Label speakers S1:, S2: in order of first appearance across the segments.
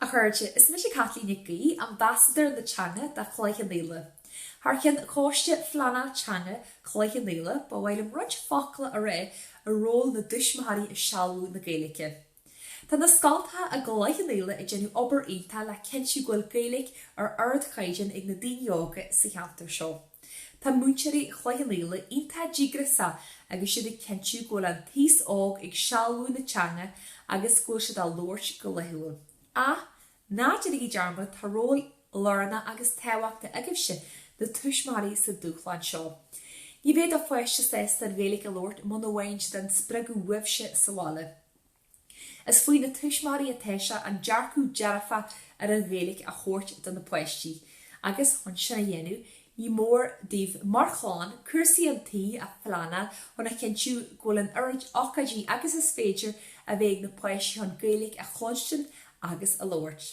S1: A chairde, is mise Caitlín Nic Aoidh, Ambasadóir na Teanga do Chloich Cheann Fhaola. Thar ceann Choiste Phleanála Teanga Chloich Cheann Fhaola, ba mhaith liom roinnt focal a rá ar ról na dtuismitheoirí i sealbhú na Gaeilge. Tá na scoltacha i gCloich Cheann Fhaola ag déanamh obair iontach le cinntiú go bhfuil Gaeilge ar ardchaighdeán ag na daoine óga sa cheantar seo. Tá múinteoirí Chloich Cheann Fhaola iontach díograiseach agus siad ag cinntiú go bhfuil an t-aos óg ag sealbhú na teanga agus go bhfuil siad á labhairt go laethúil. Ach Ná déanaigí dearmad, tá ról lárnach agus tábhachtach agaibhse, na tuismitheoirí sa dúshlán seo. Ní bheidh do pháiste sásta an Ghaeilge a labhairt muna bhfaigheann siad an spreagadh uaibhse sa bhaile. Is faoi na tuismitheoirí atá sé an dearcadh dearfach ar an Ghaeilge a thabhairt do na páistí, agus chun sin a dhéanamh, Ní mór daoibh, mar chlann, cúrsaí an tí a phleanáil chun a chinntiú go bhfuil an oiread ocáidí agus is féidir a bheith ag na páistí chun Gaeilge a chluinstin agus a labhairt.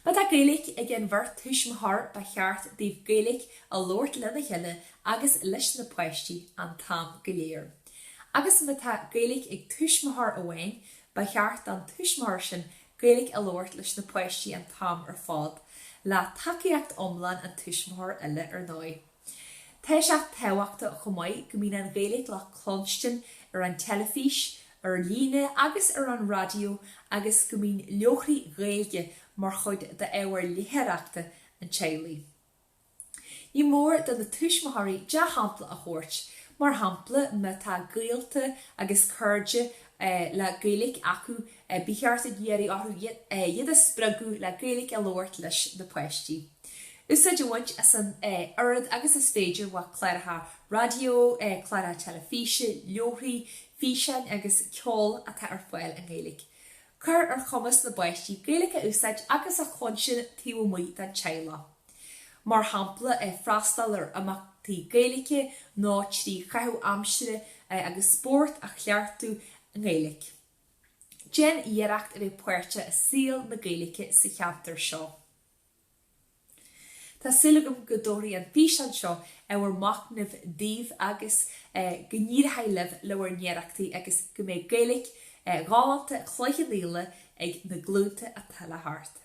S1: Má tá Gaeilge ag an bheirt tuismitheoir ba cheart daoibh Gaeilge a labhairt lena chéile agus leis na páistí an t-am go léir. Agus má tá Gaeilge ag tuismitheoir amháin ba cheart don tuismitheoir sin Gaeilge a labhairt leis na páistí an t-am ar fad, le tacaíocht iomlán an tuismitheoir eile, ar ndóigh. Tá sé tábhachtach chomh maith go mbíonn an Ghaeilge le cluinstin ar an teilifís, ar líne agus ar an raidió agus go mbíonn leabharthaí Gaeilge mar chuid d'ábhar léitheoireachta an teaghlaigh. Ní mór do na tuismitheoirí dea-shampla a thabhairt, mar shampla má tá gaolta agus cairde le Gaeilge acu ba cheart a iarraidh orthu iad a spreagadh le Gaeilge a labhairt leis na páistí. Úsáid a bhaint as an oiread agus is féidir, cláracha raidió, cláracha teilifíse, leabharthaí, físeáin agus ceol atá ar fáil i nGaeilge. Cuir ar chumas na bpáistí Gaeilge a úsáid agus a chluinstin taobh amuigh den teaghlach. mar shampla freastal ar imeachtaí Gaeilge nó trí chaitheamh aimsire agus spórt a chleachtú i nGaeilge. Déan iarracht a bheith páirteach i saol na Gaeilge sa cheantar seo. Tá súil agam go dtabharfaidh an físeán seo ábhar machnaimh daoibh agus go n-éireoidh libh le bhur n-iarrachtaí agus go mbeidh Gaeilge ghalánta Chloich Cheann Fhaola ag na glúnta atá le theacht.